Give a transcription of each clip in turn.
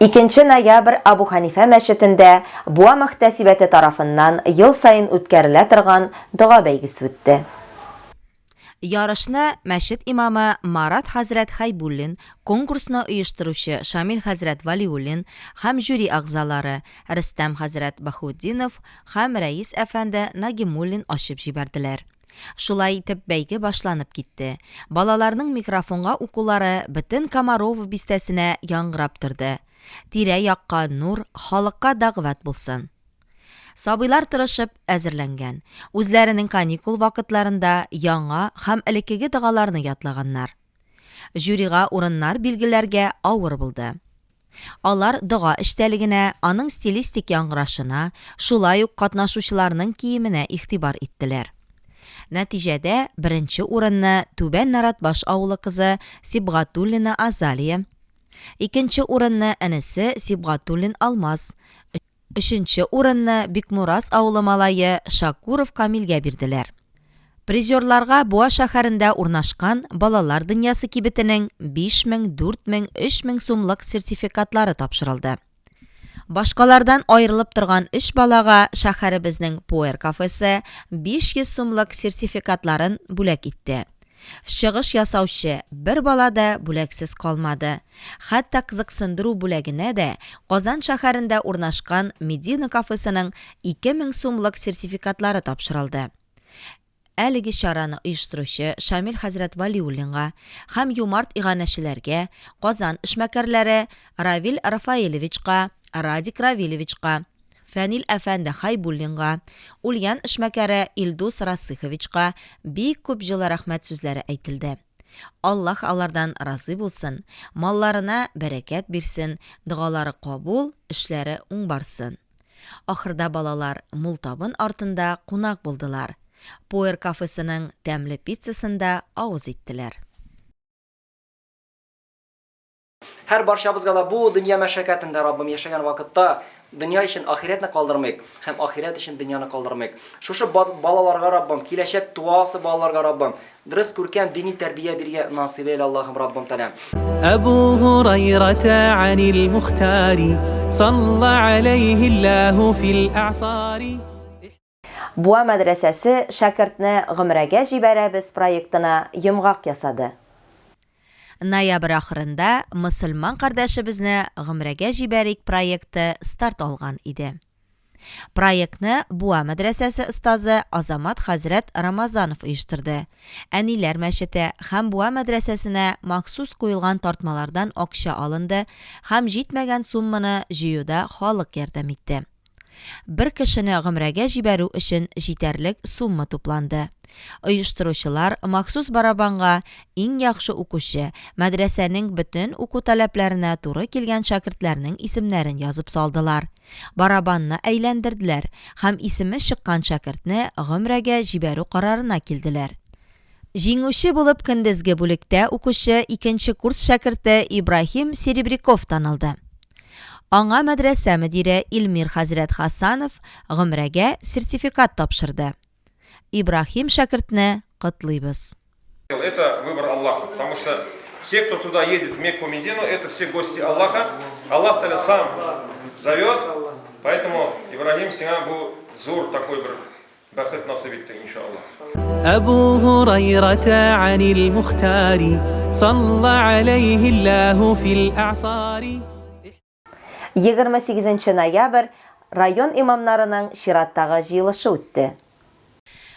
Икенче ноябрь Абу Ханифә мәчетендә Буа мөхтәсибәте тарафыннан ел саен үткәрелә торган дога бәйгесе үтте. Ярышны мәчет имамы Марат хәзрәт Хәйбуллин, конкурсны оештыручы Шамил хәзрәт Вәлиуллин һәм жюри әгъзалары Рөстәм хәзрәт Баһутдинов һәм рәис әфәнде Нагимуллин ачып җибәрделәр. Шулай итеп, бәйге башланып китте. Балаларның микрофонга укулары бөтен Комарово бистәсенә яңгырап торды. Тирә-якка нур, халыкка дәгъват булсын! Сабыйлар тырышып әзерләнгән. Үзләренең каникул вакытларында яңа һәм элеккеге догаларны ятлаганнар. Жюрига урыннар билгеләргә авыр булды. Алар дога эчтәлегенә, аның стилистик яңгырашына, шулай ук катнашучыларның киеменә игътибар иттеләр. Нәтиҗәдә беренче урынны Түбән Наратбаш авылы кызы Сибгатуллина Азалия, икенче урынны энесе Сибгатуллин Алмаз, Өченче урынны Бикмураз авылы малае Шакуров Камилгә бирделәр. Призерларга Буа шәһәрендә урнашкан Балалар дөньясы кибетенең 5000, 4000, 3000 сумлык сертификатлары тапшырылды. Башкалардан аерылып торган өч балага шәһәребезнең Пуэр кафесы 500 сумлык сертификатларын бүләк итте. Чыгыш ясаучы бер бала да бүләксез калмады. Хәтта кызыксындыру бүләгенә дә Казан шәһәрендә урнашкан Медина кафесының 2000 сумлык сертификатлары тапшырылды. Әлеге чараны оештыручы Шамил хәзрәт Вәлиуллинга һәм юмарт иганәчеләргә, Казан эшмәкәрләре Равил Рафаэлевичка, Радик Равилевичка, Фәнил әфәнде Хәйбуллинга, Ульян эшмәкәре Илдус Расыйховичка бик күп җылы рәхмәт сүзләре әйтелде. Аллаһ алардан разый булсын, малларына бәрәкәт бирсен, догалары кабул, эшләре уң барсын. Ахырда балалар мул табын артында кунак булдылар, Пуэр кафесының тәмле пиццасын да авыз иттеләр. Һәр барчабызга да бу дөнья мәшәкатендә Раббым яшәгән вакытта дөнья өчен ахирәтне калдырмыйк һәм ахирәт өчен дөньяны калдырмыйк. Шушы балаларга Раббым, киләчәк туасы балаларга Раббым, дөрес күркәм дини тәрбия биргә насыйп әйлә Аллаһым Раббым Тәләм. Әбу Гурайрата анил Мухтари, салла алейһи Аллаһу фил аъсари. Буа мәдрәсәсе Шәкертне гомрәгә җибәрәбез проектына йомгак ясады. Ноябрь ахырында Мөселман кардәшебезне гомрәгә җибәрик проекты старт алган иде. Проектны Буа мәдрәсәсе остазы Азамат хәзрәт Рамазанов оештырды. Әниләр мәчете һәм Буа мәдрәсәсенә махсус куелган тартмалардан акча алынды һәм җитмәгән сумманы җыюда халык ярдәм итте. Бер кешене гомрәгә җибәрү өчен җитәрлек сумма тупланды. Оештыручылар махсус барабанга иң яхшы укучы, мәдрәсәнең бөтен уку таләпләренә туры килгән шәкертләрнең исемнәрен язып салдылар. Барабанны әйләндерделәр һәм исеме чыккан шәкертне гомрәгә җибәрү карарына килделәр. Җиңүче булып көндезге бүлектә укучы икенче курс шәкерте Ибраһим Серебряков танылды. Аңа мәдрәсә мөдире Илмир хәзрәт Хасанов гомрәгә сертификат тапшырды. Ибраһим шәкертне котлыйбыз. Это выбор Аллаха, потому что все, кто туда едет в Мекку Медину, это все гости Аллаха, Аллах Тааля сам зовет, поэтому, Ибраһим, сиңа бу зур такой бер Бәхет насыйп итте иншаллаһ. Әбу Һурайрата анил Мухтари салла алейхи Аллаһу фил а'сари. 28 ноябрь район имамнарының чираттагы җыелышы үтте.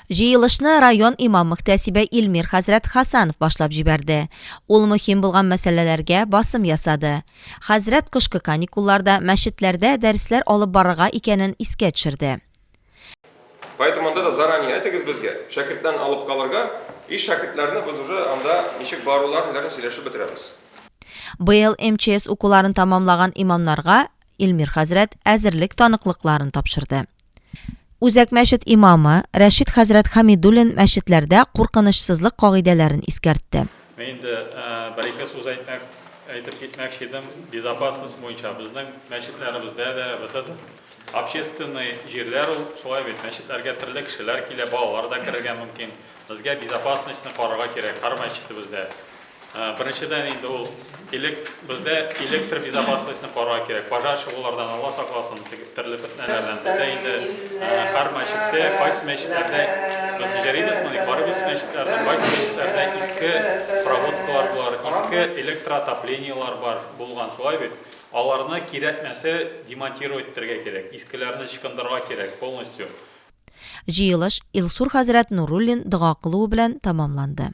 Җыелышны район имам-мөхтәсибе Илмир хәзрәт Хасанов башлап җибәрде. Ул мөһим булган мәсьәләләргә басым ясады. Хәзрәт кышкы каникулларда мәчетләрдә дәресләр алып барырга икәнен искә төшерде. Поэтому анда да заранее әйтегез безгә, шәкертләрне алып калырга, и шәкертләрне без уже анда ничек баруларын, ниләрен сөйләшеп бетерәбез. Быел МЧС укуларын тәмамлаган имамнарга Илмир хәзрәт әзерлек таныклыкларын тапшырды. Үзәк мәчет имамы Рәшит хәзрәт Хамидуллин мәчетләрдә куркынычсызлык кагыйдәләрен искәртте. Мин инде бер-ике сүз әйтмәк, әйтеп китмәкче идем. Безопасность буенча безнең мәчетләребездә дә бөтен общественный җирләр ул шулай бит. Мәчетләргә төрле кешеләр килә, балалар да керергә мөмкин. Безгә безопасностьны карарга кирәк һәр мәчетебездә. Беренчедән инде ул Элек бездә электр безопасностен карар кирәк. Пожар чыгулардан Алла сакласын, теге төрле фетнәләрдән. Бездә инде һәр мәчеттә, кайсы мәчетләрдә без җәрибез моны, барыбыз мәчетләрдә, кайсы мәчетләрдә иске проводкалар бар, иске электроотоплениелар бар булган, шулай бит? Аларны кирәкмәсә демонтировать итәргә кирәк, искеләрне чкындырырга кирәк полностью. Җыелыш Илсур хәзрәт Нуруллин дога кылуы белән тәмамланды.